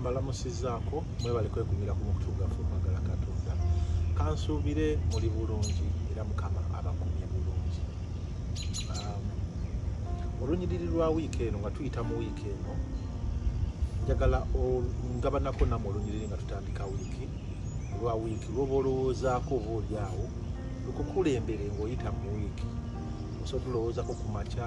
mbalamusizaako mwebale kwegumira ku mukutu gaffe okwagala katonda kansuubire muli bulungi era mukama abakumye bulungi um, olunyiriri lwa wiiki eno nga tuyita mu wiiki eno njagala ngabanako namu olunyiriri nga tutandika wiiki lwa wiiki lwoba olowoozaako oba olyawo lukukulembere ngaoyita mu wiiki osobola okulowoozako ku makya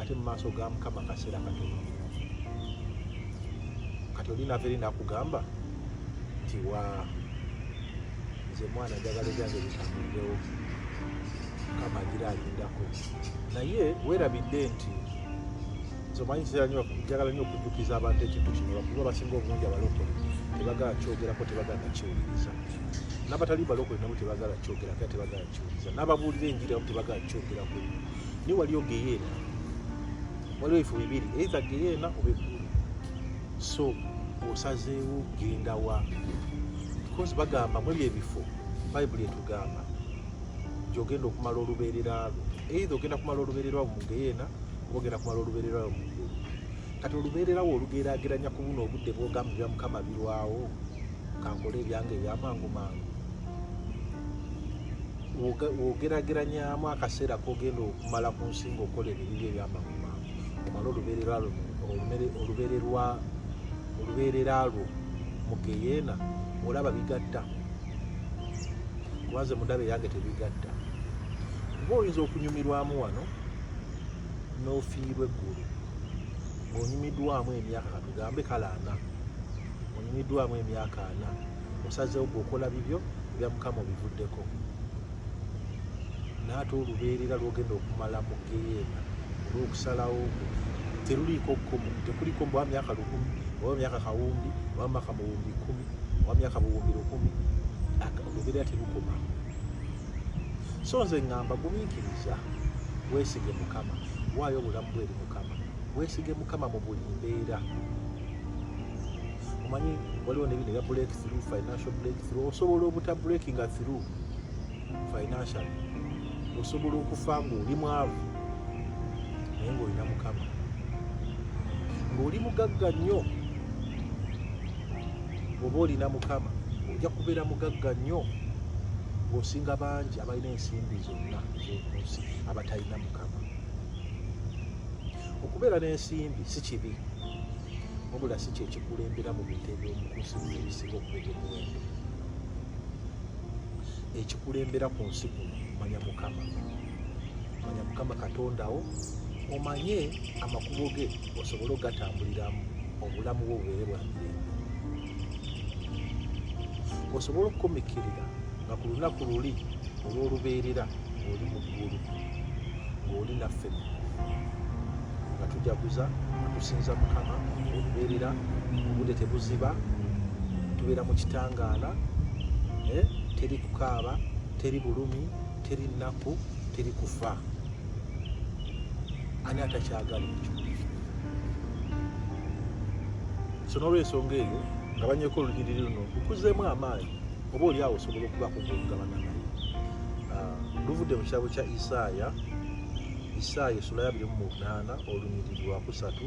ate mu maaso ga mukama kaseera katono kati oli nava eri nakugamba nti wa nze mwana njagala ebyange bitambudewo mukama agira alindako naye werabidde nti nzomanyi kiseera nyo njagala nyo okujjukiza abantu ekintu kino bakuba basinga obungi abalokole tebagala kyogerako tebagala nakiwuliriza nabatali balokole nabo tebagala kyogerako tebagala kyuliza n'ababuulira enjiri abamu tebagala kyogerako naye waliyo geyeena waliwo ebifo bibiri eiza geyeena oba eggulu so osazeewo genda wa because bagamba mu ebyo ebifo bayibuli etugamba gyogenda okumala olubeerera lwo eitha ogenda kumala olubeerera lwo mu geyeena oba ogenda kumala olubeerera lwo mu ggulu kati olubeererawo olugeraageranya ku buno obudde bwogamba bya mukama birwawo kankole ebyange ebyamangu mangu wogerageranyamu akaseera kogenda okumala ku nsinga okola ebibibyo ebyamangu mangu omala olubeerera lwo mugeyeena olaba bigatta kubanze mudaba eyange tebigatta oba oyinza okunyumirwamu wano n'ofiirwa eggulu ng'onyumiddwamu emyaka katugambe kale ana onyumiddwamu emyaka ana osazeewo gweokola bibyo ebya mukama obivuddeko naate olubeerera lwogenda okumala mu geyeena olwokusalawo teruliiko kkomo tekuliko mbu myaka lukumi oba myaka kawumbi oba maka muwumbi kumi oba myaka buwumbi lukumi olubeerera terukoma so nze ngamba gumiikiriza weesige mukama waayo obulamu bwe eri mukama weesige mukama mu buli mbeera omanyi waliwo nebino ebya break through financial break through osobola obuta breakinga through financial osobola okufa ngaoli mwavu naye ngaolina mukama ngaoli mugagga nnyo bwoba olina mukama ojja kubeera mugagga nnyo ng'osinga bangi abalina ensimbi zonna ezokunsi abatalina mukama okubeera n'ensimbi si kibi wabula si kyekikulembera mu bintu ebyomukunsi ebisinga okuba ebyomuwendo ekikulembera ku nsi kuno manya mukama manya mukama katondawo omanye amakubo ge osobole ogatambuliramu obulamu bwo bubeere bwamirembe osobole okukomekkerera nga ku lunaku luli olw'olubeerera ng'oli mu ggulu ng'oli naffe nga tujaguza nga tusinza mukama olubeerera obudde tebuziba tubeera mu kitangaala eh, teri kukaaba teri bulumi teri nnaku teri kufa ani atakyagala ekyo so n'olwensonga eyo nga banyeko olunyiriri luno lukuzeemu amaanyi oba oli awo osobola okubaako gwokugabana naye ah, luvudde mu kitabo kya isaaya isaaya esula ya 28 olunyiriri lwakusatu